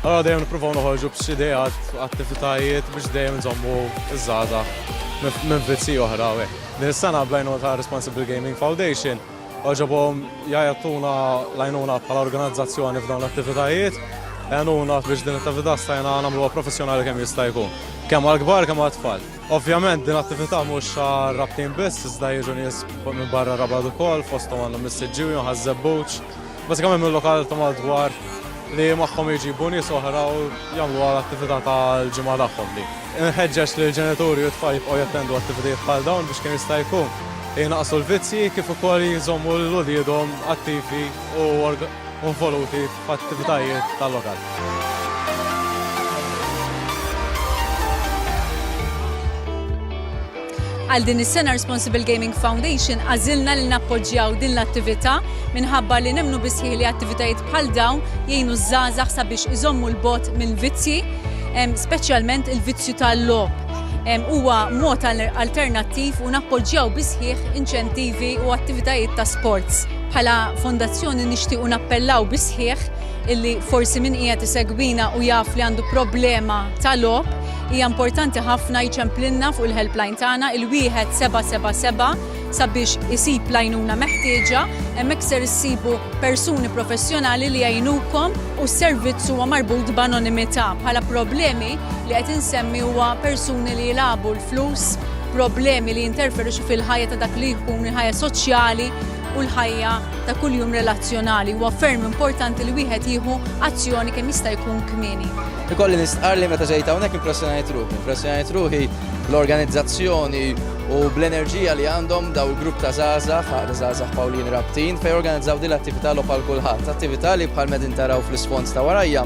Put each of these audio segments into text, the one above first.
Allura dejjem nippruvaw noħorġu b'xi ideat, attivitajiet biex dejjem inżommu ż-żgħażagħ minn vizji oħra u hekk. Din is-sena bl-għajnuna ta' Responsible Gaming Foundation għoġobhom jagħtuna l-għajnuna bħala organizzazzjoni f'dawn l-attivitajiet. Għenuna biex din l-attività stajna nagħmluha professjonali kemm jista' jkun, kemm għall-kbar kemm għat-tfal. Ovvjament din l-attività mhux għar-Rabtin biss iżda jiġu nies minn barra Rabat ukoll fosthom għandna mis-Siġġiewi, Ħaż-Żebbuġ, Bażikament mill-lokal ta' madwar li magħhom jġibu nies oħra u jagħmluha l-attività tal-ġimgħa tagħhom li. Inħeġġeġ lill-ġenituri u t-tfal jibqgħu jattendu attivitajiet bħal dawn biex kemm jista' jkun jnaqqsu l-vizzji kif ukoll jżommu lil uliedhom attivi u involuti f'attivitajiet tal-lokal. Għal din is-sena Responsible Gaming Foundation għażilna li nappoġġjaw din l-attività minħabba li nemnu bisħiħ li attivitajiet bħal dawn jgħinu ż-żgħażagħ sabiex iżommu l-bot minn vizzji, speċjalment il-vizzju tal-logħob. Huwa mod alternattiv u nappoġġjaw bisħiħ inċentivi u attivitajiet ta' sports. Bħala fondazzjoni nixtiequ nappellaw bisħiħ illi forsi min qiegħed isegwina u jaf li għandu problema ta' logħob, Hija importanti ħafna jċemplilna fuq il-helpline tagħna il-1777 sabiex isib l-għajnuna meħtieġa, hemmhekk ser issibu persuni professjonali li jgħinukom u s-servizz huwa marbut b'anonimità. Bħala problemi li qed insemmi huwa persuni li jilagħbu l-flus, problemi li jinterferixu fil-ħajja ta' dak li jkun il-ħajja soċjali u l-ħajja ta' kuljum relazzjonali. Huwa ferm importanti li wieħed jieħu azzjoni kemm jista' jkun kmieni. Ikolli nistqar li meta ġejt hawnhekk impressjonajt ruħi, impressjonajt ruħi l-organizzazzjoni u bl-enerġija li għandhom daw il-grupp ta' żgħażagħ, għaqda żgħażagħ Pawlin Rabtin, fejn organizzaw din l-attività logħob għal kulħadd, attività li bħal medin taraw fl-isfond ta' warajja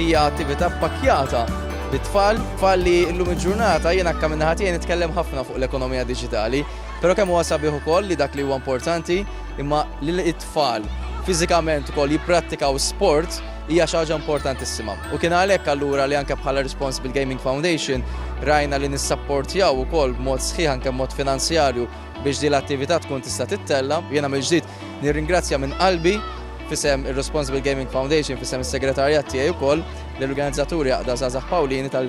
hija attività pakkjata bit-tfal, tfal li llum il-ġurnata jiena akka minna ħatijin nitkellem ħafna fuq l-ekonomija diġitali, pero kemm huwa sabiħ ukoll li dak li huwa importanti imma li t-tfal fiżikament ukoll jipprattikaw sport hija xi ħaġa importantissima. U kien għalhekk allura li anke bħala Responsible Gaming Foundation rajna li nissapportjaw ukoll b'mod sħiħ anke b'mod finanzjarju biex din l-attività tkun tista' tittella. Jiena mill-ġdid nirringrazzja minn qalbi fisem ir-Responsible Gaming Foundation fisem is-segretarjat tiegħi wkoll l-organizzaturi għaqda Żgħażagħ Pawlini tal